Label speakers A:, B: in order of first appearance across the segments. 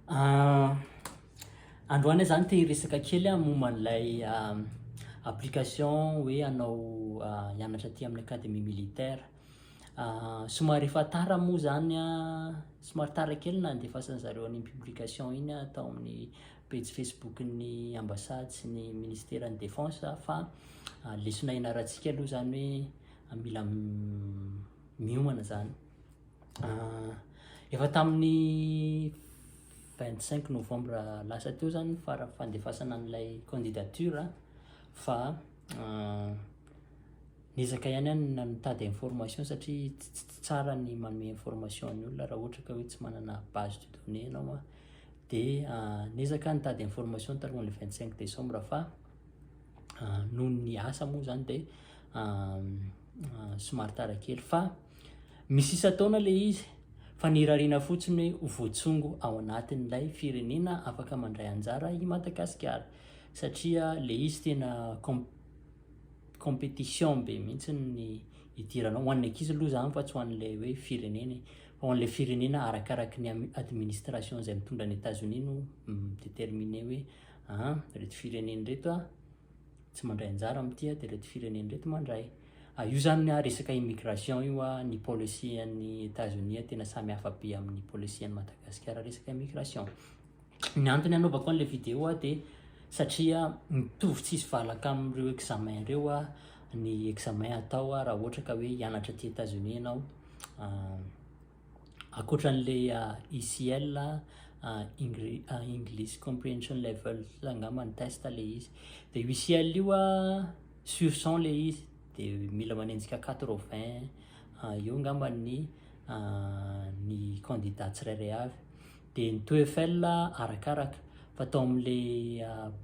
A: Ah, androany zany te hiresaka kely aho momba an'ilay ah, application hoe anao ah, hianatra aty amin'ny académie militaire. Ah, somary efa tara moa zany ah, somary tara kely nandefasan'ny zareo an'iny publication iny aho tao amin'ny pejy Facebook-n'ny Ambassade sy ny Ministeran'ny Défense fa lesona ianarantsika aloha izany hoe mila miomana izany. Efa tamin'ny 25 novembre lasa teo izany fara fandefasana an'ilay candidature fa niezaka ihany any na mitady information satria tsy tsara ny manome information ny olona raha ohatra ka hoe tsy manana base de données ianao a dia niezaka aho nitady information talohan'ny le vingt cinq décembre fa noho ny asa moa zany dia somary tara kely fa misy isan-taona le izy fa ny irariana fotsiny hoe voatsongo ao anatin'ilay firenena afaka mandray anjara i Madagasikara satria le izy tena com- compétition be mihitsy ny idiranao ho an'ny ankizy aloha zany fa tsy ho an'ilay hoe firenena e. Ao an'ilay firenena arakaraky ny administration izay mitondra an'i Etazonia no mi-determiner hoe an, ireto firenena ireto tsy mandray anjara amin'ity dia ireto firenena ireto mandray. Ah, io zany ah, resaka immigration io ah, ny policy an'i Etazonia tena samy hafa be amin'ny policy an'i Madagasikara resaka immigration. Ny antony anaovako an'ilay vidéo aho dia satria mitovy tsisy valaka amin'ireo examen ireo aho ny examen atao aho raha ohatra ka hoe hianatra aty États-Unis ianao ankoatran'ilay ECL English Comprehension Level angamba ny test ilay izy dia io ECL io sur cent ilay izy dia mila manenjika quatre vingt eo angamba ny ny candidat tsirairay avy dia ny TOEFL arakaraka fa tao amin'le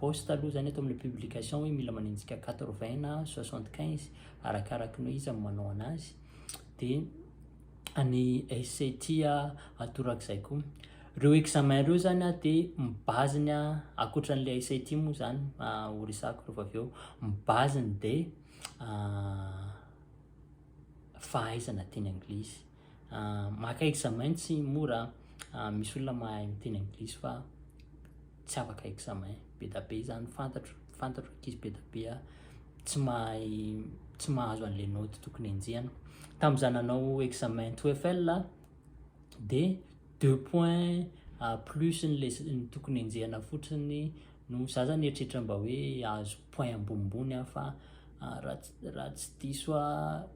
A: post aloha zany atao amin'le publication hoe mila manenjika 80 na 75 arakaraka ny hoe iza no manao anazy dia any SAT atorak'izay koa reo examen reo zany a dia mibaziny a akoatran'le SAT moa zany ho resako rehefa avy eo mibaziny dia fahaizana teny anglisy Maka examen tsy mora an, misy olona mahay miteny anglisy fa tsy afaka examen, bedabe izany fantatro, fantatro ankizy bedabe tsy mahay tsy mahazo an'le naoty tokony enjehina, tamin'izaho nanao examen TOEFL a de deux points plus n'le tokony enjehina fotsiny no za zany eritreritra mba hoe ahazo point ambonimbony aho fa raha tsy diso aho.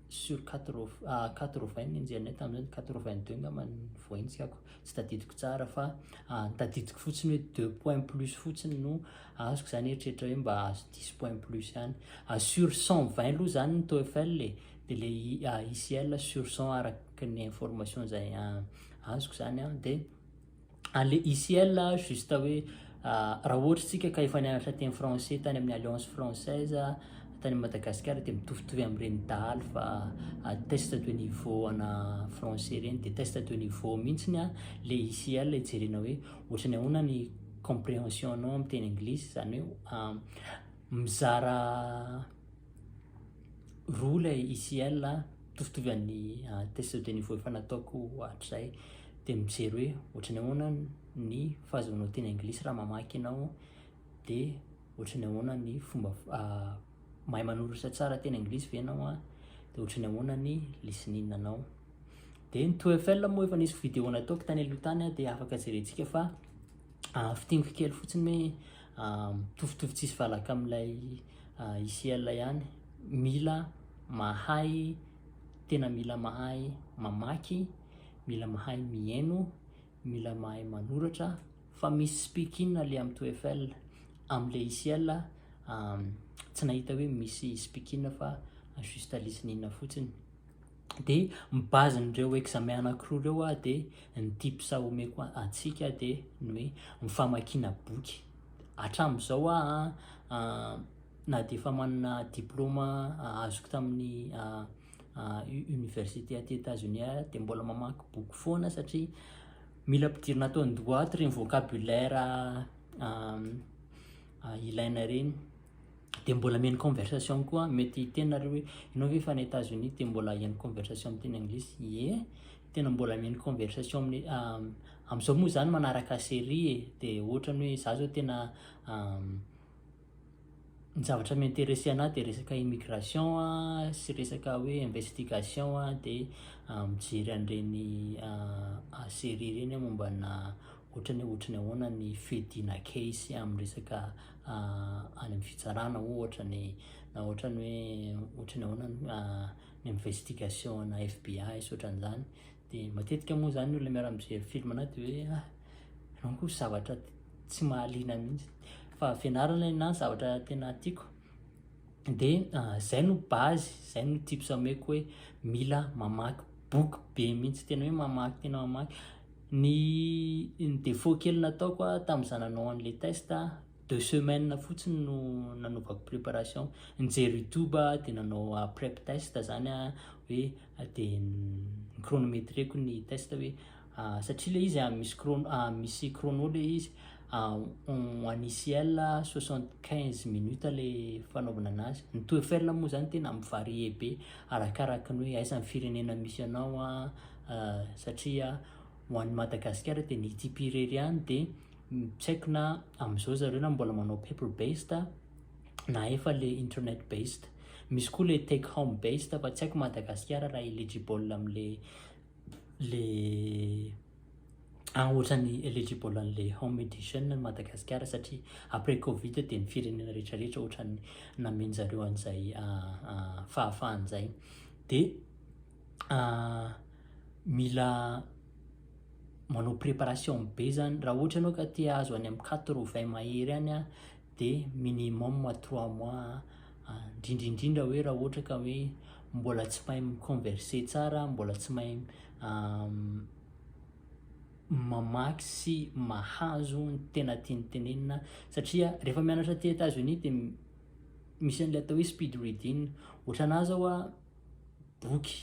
A: sur quatre-vingts ny nijerinay tamin'izay, quatre-vingt-deux angamba ny voaintsikako, tsy tadidiko tsara fa ny tadidiko fotsiny hoe deux points plus fotsiny no azoko, za nieritreritra hoe mba ahazo dix points plus ihany, sur cent vingt aloha zany ny TOEFL e, dia le ICL sur cent araka ny information zay azoko zany an, dia. Allez ici elle juste hoe raha ohatra isika ka efa nianatra teny français tany amin'ny alliance française tany Madagascar dia mitovitovy amin'ireny dahalo fa test de niveau ana français ireny dia test de niveau mihitsy ny le ici elle ijerena hoe ohatrany ahoana ny comprehension anao amin'ny teny anglisy izany hoe mizara roa ilay ICL a, mitovitovy an'ny test de niveau efa nataoko hatrizay, dia mijery hoe ohatry ny ahoana ny fahazoanao teny anglisy raha mamaky ianao, dia ohatry ny ahoana ny fomba mahay manoratra tsara teny anglisy ve ianao an, dia ohatry ny ahoana ny listening anao. Dia ny TOEFL moa efa nisy vidéo nataoko tany aloha tany dia afaka jerentsika fa. fintiniko kely fotsiny hoe mitovitovy tsisy valaka amin'ilay ICL ihany mila mahay tena mila mahay mamaky mila mahay mihaino mila mahay manoratra fa misy speaking le amin'ny TOEFL amin'le ICL tsy nahita hoe misy speaking fa juste listening fotsiny dia ny base n'ireo examen anakiroa ireo a dia ny tips omeko antsika dia ny hoe ny famakiana boky hatramin'izao aho a na dia efa manana diploma azoko tamin'ny université aty Etats Unis ary dia mbola mamaky boky foana satria mila ampidirina ato an-doha ato ireny vocabulaire ilaina ireny dia mbola mihaino conversation koa an, mety hiteny nareo hoe ianao ve efa any Etats Unis dia mbola hihaino conversation amin'ny teny anglisy, ie tena mbola mihaino conversation amin'ny amin'izao moa zany manaraka série e, dia ohatra ny hoe za zao tena ny zavatra mi-intéresser anahy dia resaka immigration an, sy resaka hoe investigation an, dia mijery an'ireny série ireny aho momba ana ohatra ny hoe ohatra ny ahoana ny fihodina case amin'ny resaka any amin'ny fitsarana ohatra ny na ohatran'ny hoe ohatran'ny ahoana ny investigation ana FBI sy ohatran'izany de matetika moa zany ny olona miara mijery film anah de hoe ah enao koa zavatra tsy mahaliana mihitsy fa fianarana na zavatra tena tiako de zay no base zay no tips ameko hoe mila mamaky boky be mihitsy tena hoe mamaky tena mamaky Ny ny défaut kely nataoko a tamin'izaho nanao an'ilay test a, deux semaines fotsiny no nanaovako préparation, nijery youtube aho de nanao a prep test zany a, hoe de ni-chronometreko ny test hoe satria le izy a misy chrono a misy chrono le izy en en ICL a soixante quinze minutes le fanaovana anazy, ny TOEFL moa zany tena mi-varier be arakaraky ny hoe aiza ny firenena misy anao a, satria ho an'ny Madagasikara dia ny ITP irery ihany dia tsy haiko na amin'izao zareo na mbola manao paper based na efa le internet based misy koa le take home based fa tsy haiko Madagasikara raha eligible amin'le le ah ohatrany eligible an'le home edition ny Madagasikara satria après covid dia ny firenena rehetrarehetra ohatrany namenjareo an'izay ah, ah, fahafahan'izay dia mila manao préparation be zany raha ohatra ianao ka te hahazo any amin'ny quatre vingt mahery any a de minimum trois mois indrindrindrindra hoe raha ohatra ka hoe mbola tsy mahay mi-converser tsara mbola tsy mahay mamaky sy mahazo ny tena tiany tenenina satria rehefa mianatra aty Etats Unis de misy an'ilay atao hoe speed reading, ohatranahy zao a boky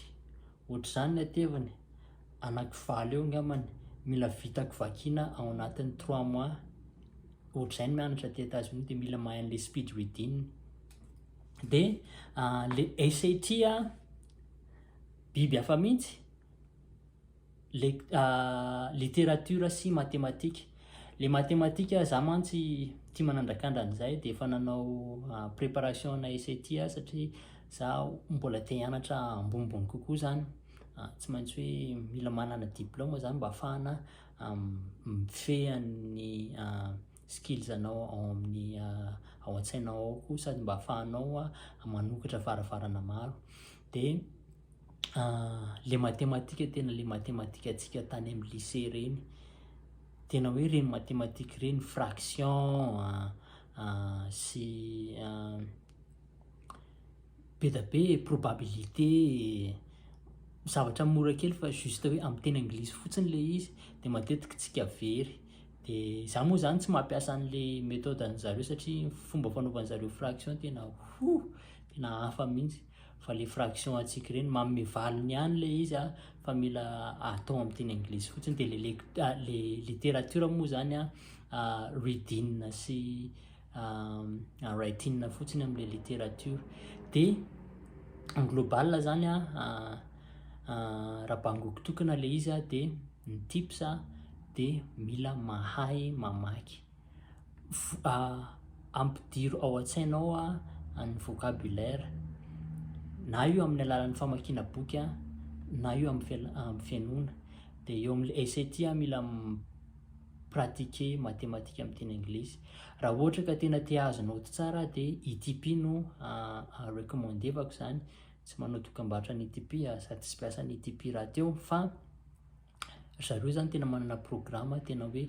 A: ohatr'izany ny ateviny anaky valo eo angambany mila vitako vakiana ao anatin'ny trois mois ohatr'izay ny mianatra aty Etats Unis dia mila mahay an'ilay speed reading dia ah, le SAT ah biby hafa mihitsy Literatiora sy matematika. Ilay matematika izaho mantsy tia manandrakandra an'izay dia efa nanao préparation ana SAT aho satria izaho mbola te hianatra ambonimbony kokoa izany. Tsy maintsy hoe mila manana diplaoma izany mba ahafahana mifehy an'ny skills anao ao amin'ny ao an-tsainao ao koa sady mba ahafahanao manokatra varavarana maro. dia ilay matematika tena ilay matematika antsika tany amin'ny lycée ireny, tena hoe ireny matematika ireny, fraction sy be dia be e, probabilité e, zavatra mora kely fa juste hoe amin'ny teny anglisy fotsiny ilay izy dia matetika tsika very. Dia za moa zany tsy mampiasa an'ilay methode an'zareo satria fomba fanaovan'zareo fraction tena hoo, tena hafa mihitsy. fa le fraction antsika ireny manome valiny ihany le izy a fa mila atao amin'ny teny anglisy fotsiny dia le lect- ah, le littérature moa zany a ah, reading sy ah, ah, writing fotsiny amin'le littérature dia en global zany a ah, ah, raha bangoko tokana le izy a dia ny tips a dia mila mahay mamaky Ampidiro ao an-tsainao ny vocabulaire, na io amin'ny alalan'ny famakiana boky na io amin'ny fihainoana. Dia eo amin'ilay essai ity aho mila mi-pratiquer mathématiques amin'ny teny anglisy. Raha ohatra ka tena te hahazo naoty tsara aho dia ITP no recommande-vako izany, tsy manao dokam-barotra an'ny ITP aho sady tsy mpiasa an'ny ITP rahateo fa... Ry zareo izany tena manana programa tena hoe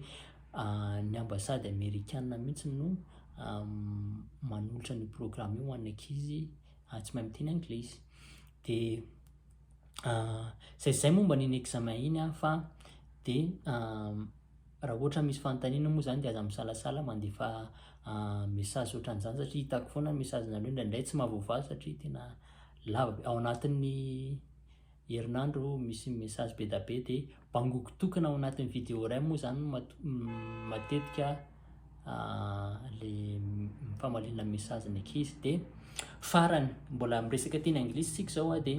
A: ny ambasady amerikana mihitsy no manolotra an'io programa io ho an'ny ankizy tsy mahay miteny anglisy. Dia izay izay momba an'iny examen iny fa dia raha ohatra misy fanontaniana moa izany dia aza misalasala mandefa message ohatran'izany satria hitako foana ny message-nareo indraindray tsy mahavoavaha satria tena lava be. Ao anatin'ny. herinandro misy message bedabe de bangoko tokana ao anatin'ny vidéo iray moa zany matetika le famaliana ny message ny ankizy de farany mbola miresaka teny anglisy tsika zao a de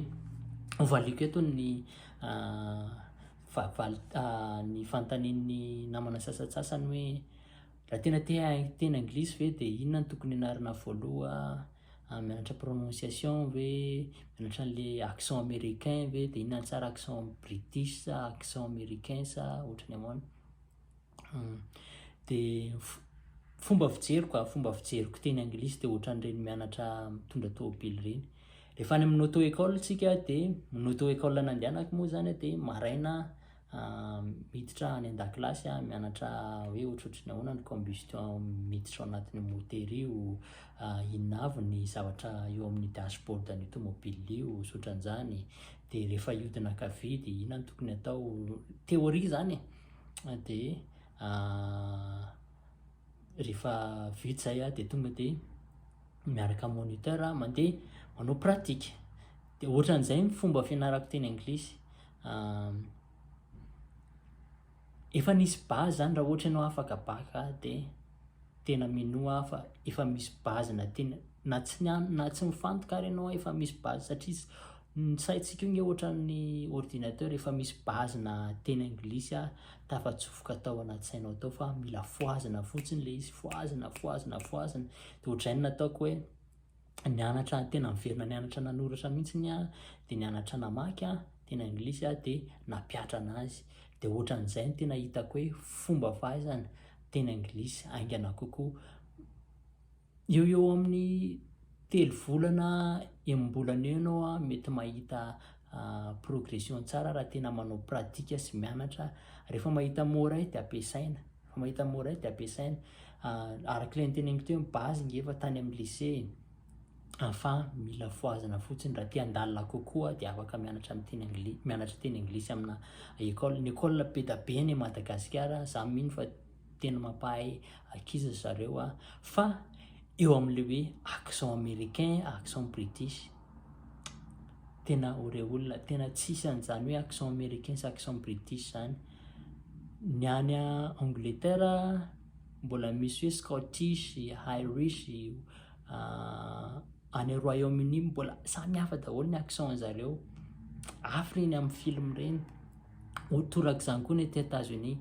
A: hovaliako eto ny fahavalo ny fanontanian'ny namana sasatsasany hoe raha tena te hahay teny anglisy ve de inona no tokony hianarana voaloha Ah, mianatra prononciation ve? Mianatra an'le accent américain ve? De inona tsara accent british sa accent américain sa ohatrany ahoana? Hum. De fomba fijeriko ah, fomba fijeriko teny anglisy de ohatran'ireny mianatra mitondra tômôbily ireny. Rehefa any amin'ny auto école tsika de ny auto école nandehanako moa zany de maraina miditra any an-dakilasy an, mianatra hoe ohatrohatry ny ahoana ny combustion miditra ao anatin'io motera io, inona avy ny zavatra eo amin'ny dashboard an'io tomobilina io, sy ohatran'izany. Dia rehefa hihodina ankavia dia inona no tokony atao, théorie izany e. Dia rehefa vita izay an, dia tonga dia miaraka amin'ny moniteur mandeha manao pratika. Dia ohatran'izay ny fomba fianarako teny anglisy. Efa nisy base zany raha ohatra ianao afaka bacc dia tena minoa aho fa efa misy base na tena na tsy niany na tsy mifantoka ary ianao efa misy base satria ny saintsika io nge ohatran'ny ordinateur efa misy base na teny anglisy ary tafatsofoka tao anaty sainao tao fa mila fohazina fotsiny le izy fohazina fohazina fohazina dia ohatran'ny nataoko hoe nianatra tena niverina nianatra nanoratra mihitsy ny ahy dia nianatra namaky aho tena anglisy aho dia nampiatra anazy dia ohatran'izay ny tena hitako hoe fomba fahaizana tena anglisy aingana kokoa eo eo amin'ny telo volana enimbolana eo ianao a mety mahita ah, progression tsara raha tena manao pratika sy mianatra rehefa mahita moray dia ampiasaina Mahita mora io dia ampiasaina. Araka ilay noteneniko teo, ny base nge efa tany amin'ny lycée e. Fa mila fohazina fotsiny raha te handalina kokoa dia afaka mianatra amin'ny teny anglisy, mianatra teny anglisy amina école. Ny école be dia be any Madagasikara, za mino fa tena mampahay ankizy ry zareo a. Fa eo amin'ilay hoe accent américain, accent british, tena oreolona, tena tsisy an'izany hoe accent américain sy accent british zany. Ny any Angleterre mbola misy hoe Scottish, Irish, any Royaume Uni mbola samy hafa daholo ny accent zareo, hafa ireny amin'ny film ireny, ho torak'izany koa ny aty Etats Unis,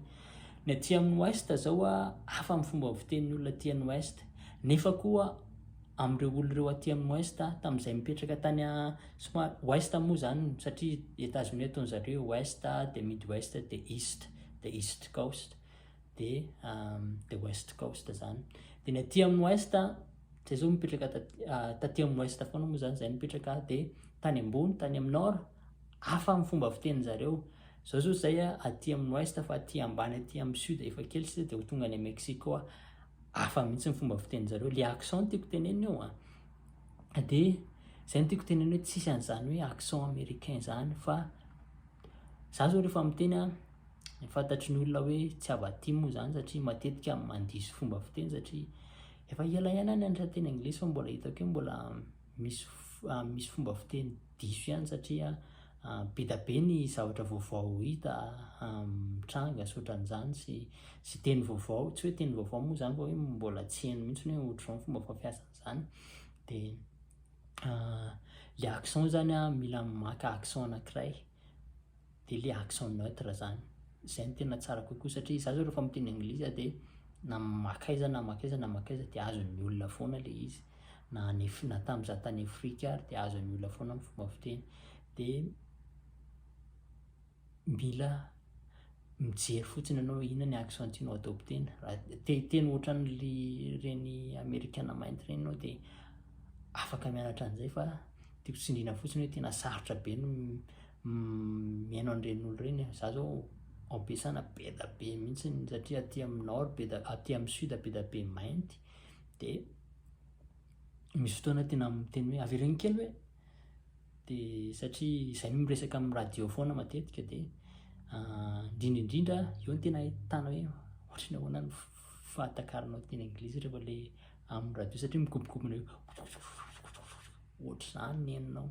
A: ny aty amin'ny ouest zao hafa ny fomba fitenin'ny olona aty an'ouest nefa koa amin'ireo olona ireo aty amin'ny Ouest tamin'izay mipetraka tany a, somary Ouest moa izany satria Etazonia ataon'i zareo hoe Ouest dia Midwest dia East, dia East Coast dia dia West Coast izany. Dia ny aty amin'ny Ouest, izay izao mipetraka taty taty amin'ny Ouest foana moa izany izay mipetraka dia tany ambony, tany amin'ny Nord, hafa amin'ny fomba fitenin'i zareo. Izao izao izay aty amin'ny Ouest fa aty ambany aty amin'ny Sud efa kely sisa dia ho tonga any Mexico aho. hafa mihitsy ny fomba fitenin-jareo, le accent no tiako tenenina eo an, de zay no tiako tenenina hoe tsisy an'izany hoe accent américain zany fa za zao rehefa miteny an, fantatry ny olona hoe tsy avy aty moa zany satria matetika mandiso fomba fiteny satria efa ela ihany aho nianatra teny anglisy fa mbola hitako hoe mbola misy misy fomba fiteny diso ihany satria be da be ny zavatra vaovao hita mitranga sy otran'izany sy sy teny vaovao tsy hoe teny vaovao moa zany fa hoe mbola tsy heno mihitsy ny hoe ohatr'izao ny fomba fampiasana izany de le accent zany a mila maka accent anankiray dia le accent neutre zany, zay no tena tsara kokoa satria za zao refa miteny anglisy za de na maka aiza na maka aiza na maka aiza de azon'ny olona foana le izy, na any Af- na tam za tany Afrika ary de azon'ny olona foana ny fomba fiteny, de mila mijery fotsiny anao hoe inona ny accent tianao adopter-na, raha te hiteny otran'le reny amerikana mainty reny enao de afaka mianatra an'zay fa tiako tsindriana fotsiny hoe tena sarotra be ny Mihaino an'ireny olo ireny aho, za zao ampesana beda be mihitsy satria aty amin'ny nord beda, aty amin'ny sud beda be mainty dia misy fotoana tena miteny hoe avereno kely hoe dia satria izay no miresaka amin'ny radio foana matetika dia indrindra indrindra eo no tena ahitana hoe ohatry ny ahoana ny fahatakaranao teny anglisy rehefa le amin'ny radio satria mikobokobona hoe ohatr'izany ny henonao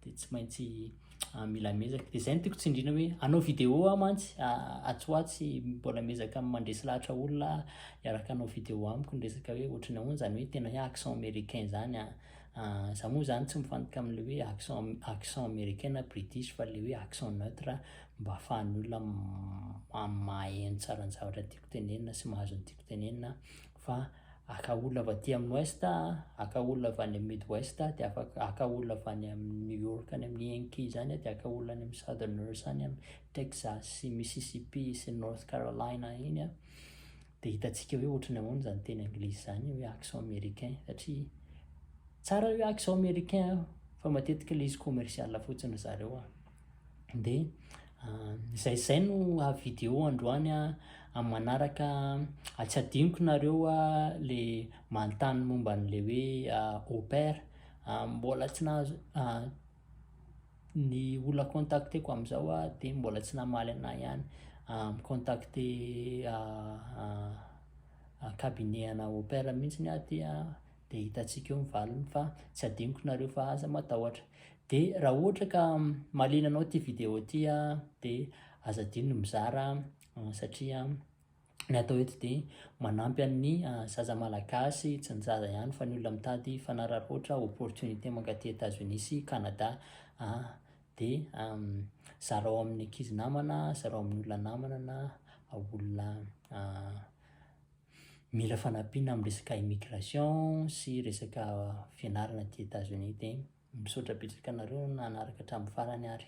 A: dia tsy maintsy ah, mila mezaka dia izay no tiako tsindrina hoe anao vidéo aho mantsy ah, atsy ho atsy mbola mezaka mandresy lahatra olona iaraka anao vidéo amiko ny resaka hoe ohatrany ahoana izany hoe tena hoe accent américain izany a ah, za moa izany tsy mifantoka amin'le hoe accent accent américain na british fa le hoe accent neutre mba ahafahan'ny olona mahay ny tsaran'ny zavatra tiako tenenina sy mahazo ny tiako tenenina fa aka olona avy aty amin'ny ouest a, aka olona avy any amin'ny midwest a, dia afaka aka olona avy any amin'ny New York any amin'ny Yankee izany a, dia aka olona any amin'ny southerners any amin'ny Texas sy Mississippi sy North Carolina iny a, dia hitantsika hoe ohatry ny ahoana izany teny anglisy izany hoe accent américain satria tsara io accent américain fa matetika ilay izy commercial fotsiny ry zareo a. dia izay izay no video androany amin'ny manaraka tsy adinoko nareo le manontany momba an'le hoe au pair mbola tsy nahazo ny olona contacteko amin'izao aho dia mbola tsy namaly anah ihany mi-contacte cabinet ana au pair mihintsiny aho dia Dia hitantsika eo ny valiny fa tsy adinoko nareo fa aza matahotra. Dia raha ohatra ka mahaliana anao ity vidéo ity dia aza adino ny mizara satria ny atao eto dia manampy an'ny zaza malagasy tsy ny zaza ihany fa ny olona mitady fanararaotra opportunité mankaty Etats-Unis sy Canada dia zarao amin'ny ankizy namana, zarao amin'ny olona namana na olona mila fanampiana amin'ny resaka immigration sy resaka fianarana aty Etats Unis dia misaotra betsaka anareo nanaraka hatramin'ny farany ary.